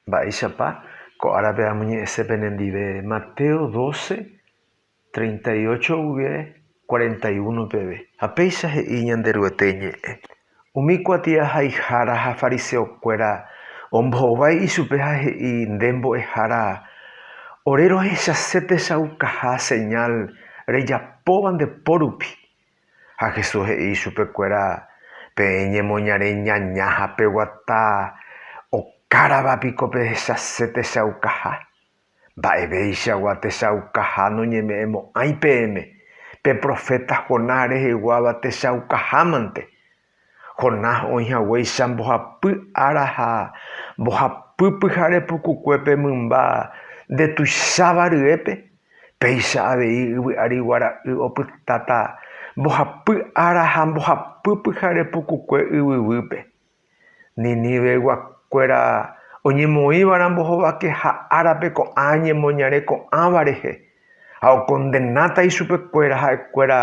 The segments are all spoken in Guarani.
Mba'éichapa ko árape amoñe'ẽse penendive? Mateo doce, treinta y ocho guive cuarenta y uno peve. Ha péicha he'i Ñanderuete Ñe'ẽ, Umi kuatiahaihára ha fariseokuéra ombohovái ichupe ha he'i, Nde mbo'ehára, ore rohechase techaukaha señal rejapóva nde pórupi, Ha Jesús he'i ichupekuéra, Peẽ ñemoñare ñaña ha peguata okárava piko pehechase techaukaha? Mba'evéichagua techaukaha noñeme'ẽmo'ãi peẽme, pe proféta Jonás reheguáva techaukahámante. Jonás oĩ haguéicha mbohapy ára ha mbohapy pyhare pukukuépe mymba nde tuicháva ryépe, péicha avei yvy ári guara'y opytáta mbohapy ára ha mbohapy pyhare pukukue yvyguýpe. Ninívegua kuéra oñemoĩva rambohovake ha árape ko'ã ñemoñare ko'ãva rehe. ha okondenáta ichupekuéra ha'ekuéra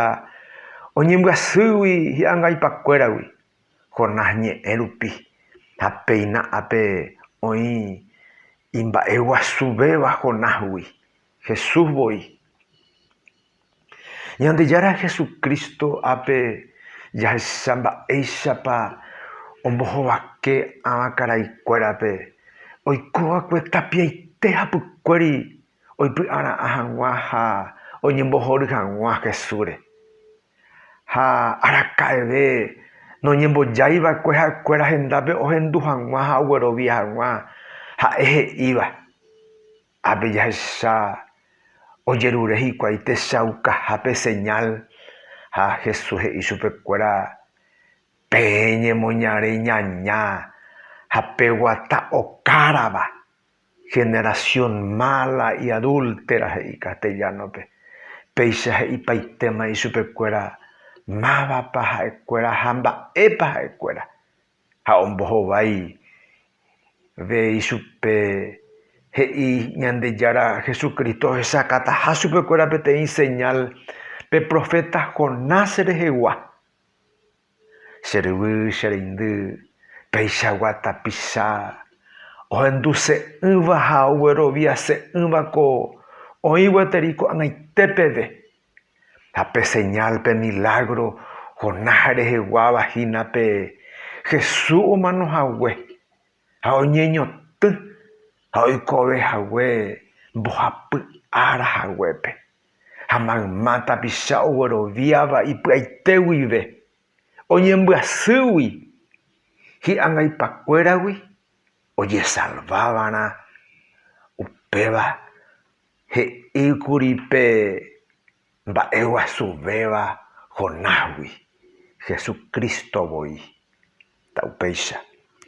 oñembyasýgui hi'angaipakuéragui, Jonás ñe'ẽ rupi, ha péina ápe oĩ imba'eguasuvéva Jonásgui, Jesús voi. Ñandejára Jesucristo ápe jahecha mba'éichapa ombohovake avakaraikuérape oikova'ekue tapiaite hapykuéri oipy'ara'ã hag̃ua ha oñembohory hag̃ua Jesúsre. Ha araka'eve noñembojái va'ekue ha'ekuéra hendápe ohendu hag̃ua ha oguerovia hag̃ua, ha'e he'íva, Ápe jahecha ojerure hikuái techaukaha pe señal, ha Jesús he'i chupekuéra, Peẽ ñemoñare ñaña ha peguata okárava. Generación mala y adúltera he'i castellano-pe. Péicha he'ipaitéma ichupekuéra mávapa ha'ekuéra ha mba'épa ha'ekuéra, ha ombohovái ve ichupe he'i Ñandejára Jesucristo ohechakataha chupekuéra peteĩ señal pe profeta Jonás rehegua. Che ryvy, che reindy, peichagua tapicha ohenduse'ỹva ha ogueroviase'ỹva ko oĩ gueteri ko'ag̃aite peve. Ha pe señal, pe milágro Jonás reheguáva hína pe Jesús omano hague ha oñeñotỹ ha oikove hague mbohapy ára haguépe. ha mayma tapicha ogueroviáva ipy'aite guive, oñembyasýgui hi'angaipakuéragui ojesalvávarã, upéva he'íkuri pe mba'eguasuvéva Jonásgui, Jesucristo voi. Upéicha.